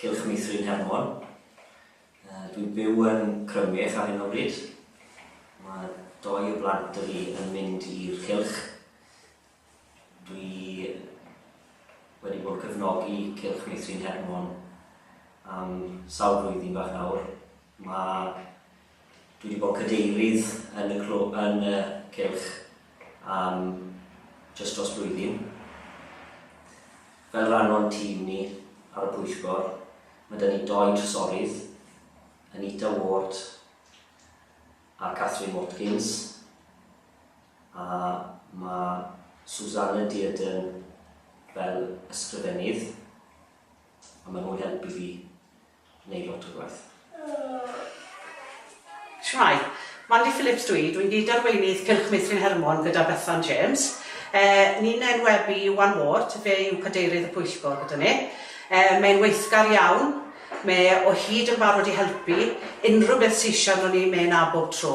Cylch Meithrin Hermon. Dwi'n byw yn Crymych ar hyn o bryd. Mae doi o blant 'da fi yn mynd i'r cylch. Dwi wedi bod cefnogi Cylch Meithrin Hermon am sawl blwyddyn bach nawr. Mae Dwi wedi bod cadeirydd yn y clwb, yn y cylch, am jyst dros blwyddyn. Fel rhan o'n tîm ni ar y pwyllgor, mae 'da ni doi drysorydd, Anita Ward a Catherine Watkins, a mae Susanna Dearden fel ysgrifennydd, a maen nhw'n helpu fi Neu lot o gwaith. Shwmae, Mandy Phillips dw i, dw i'n gyd-arweinydd Cylch Meithrin Hermon gyda Bethan James. Ni'n enwebu Iwan Ward, fe yw cadeirydd y pwyllgor gyda ni. Mae'n weithgar iawn, mae e o hyd yn barod i helpu unrhyw beth sy eisiau arno ni, mae e 'na bob tro.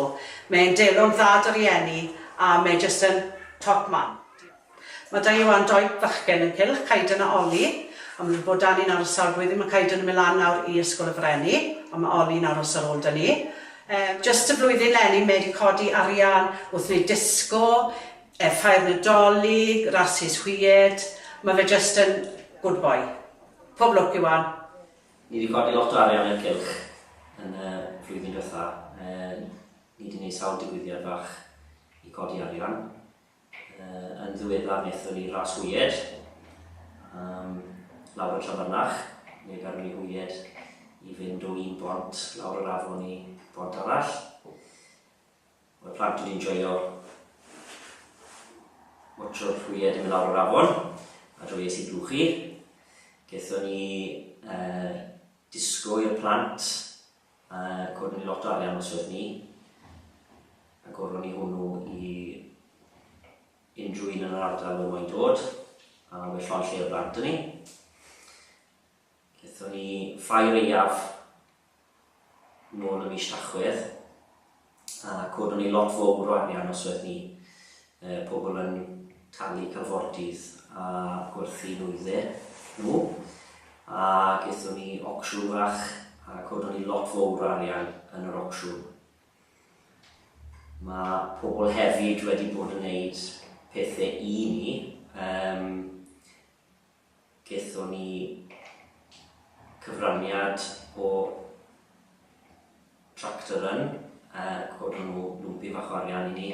Mae'n delw'n dda 'da rieni a mae jyst yn top man. Diolch. Mae da Ioan doi fachgen ynghylch, Caeden a Ollie, a maen nhw wedi bod da ni'n aros sawl blwyddyn. Mae Caeden yn mynd lan nawr i Ysgol y Frenni, ond mae Ollie yn aros ar ôl da ni. Yym, jyst y flwyddyn 'leni mae wedi codi arian wrth wneud disgo, yy ffair Nadolig, rasys hwyed. Mae fe jyst yn good boy. Pob lwc Ioan. Ni 'di codi lot o arian yn cylch yn y flwyddyn dwetha. Yy, ni 'di neud sawl digwyddiad fach i codi arian. Yn ddiweddar wnaethon ni ras hwyed, um, lawr y Trafynach, neu garon ni hwyed i fynd o un bont lawr yr afon i bont arall. Mae'r plant wedi'n joio watcho'r hwyed yn mynd lawr yr afon, a joio sy'n blwchu. Gethon ni uh, disgo i'r plant Yy, coden ni lot o arian os oedd ni. A goron ni hwnnw i unrhyw un yn yr ardal oedd moyn dod, a we llon lle o blant yn ni. Gethon ni ffrae reiaf nôl y mis Tachwedd, a codwn ni lot fowr o arian os oedd ni uh, pobl yn talu calfordydd a gwerthu nwyddau nhw a gethon ni ocsiwn fach a codwn ni lot fowr o arian yn yr ocsiwn. Mae pobl hefyd wedi bod yn gwneud pethau i ni um, Gaethon ni cyfraniad o Tractor Run, coron nhw lwmpyn fach o arian i ni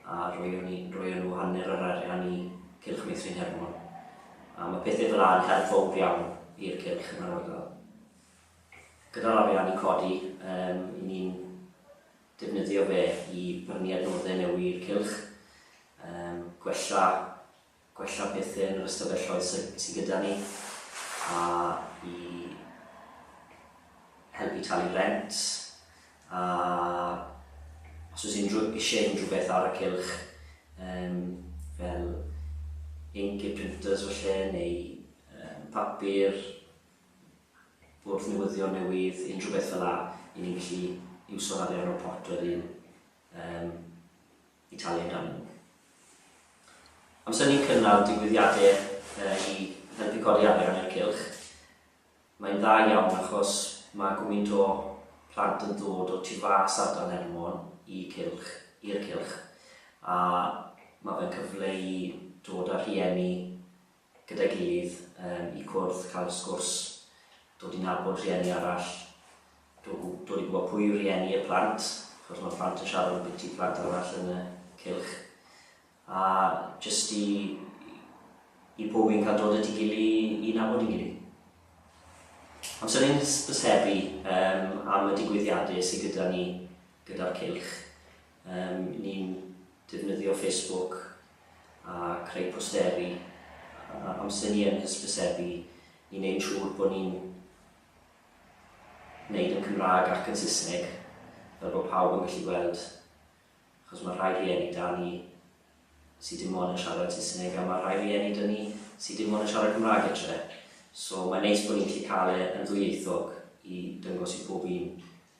a roeon ni, roeon nhw hanner yr arian i Cylch Meithrin Hermon. A mae pethau fel 'na yn help fawr iawn i'r cylch yn yr ardal. Gyda'r arian ni'n codi, yym, 'yn ni'n defnyddio fe i brynu adnoddau newydd i'r cylch, yym, gwella gwella pethau yn yr ystafelloedd sydd gyda ni a i helpu talu rent a os oes unrhyw eisiau unrhyw beth ar y cylch um, fel ink i'r printers felly neu um, papur bwrdd newyddion newydd unrhyw beth fel la i ni'n gallu iwso'r arian o'r pot wedyn um, i talu amdanyn nhw. Amser ni'n cynnal digwyddiadau i helpu codi arian i'r cylch, mae'n dda iawn achos mae gwmynt o plant yn dod o tu fas ardal Nhermon i cylch, i'r cylch, a mae fe'n cyfle i dod â rhieni gyda'i gilydd yym i cwrdd, cael y sgwrs, dod i nabod rhieni arall, dod, dod i gwybod pwy yw rhieni y plant, achos mae plant yn siarad yn biti plant arall yn y cylch, a jyst i, i pob un cael dod at ei gilydd i, i nabod ei gilydd. Ond sy'n ein hysbysebu um, am y digwyddiadau sydd gyda ni gyda'r cylch. Yym, ni'n defnyddio Facebook a creu posteri a amser ni yn hysbysebu i wneud yn siŵr bod ni'n wneud yn Cymraeg ac yn Saesneg fel bod pawb yn gallu gweld achos mae rhai rhieni 'da ni sydd dim ond yn siarad Saesneg a mae rhai rhieni 'da ni sydd dim ond yn siarad Cymraeg etre. So mae'n neis bod ni'n gallu cael e yn ddwyieithog i dangos i pob un.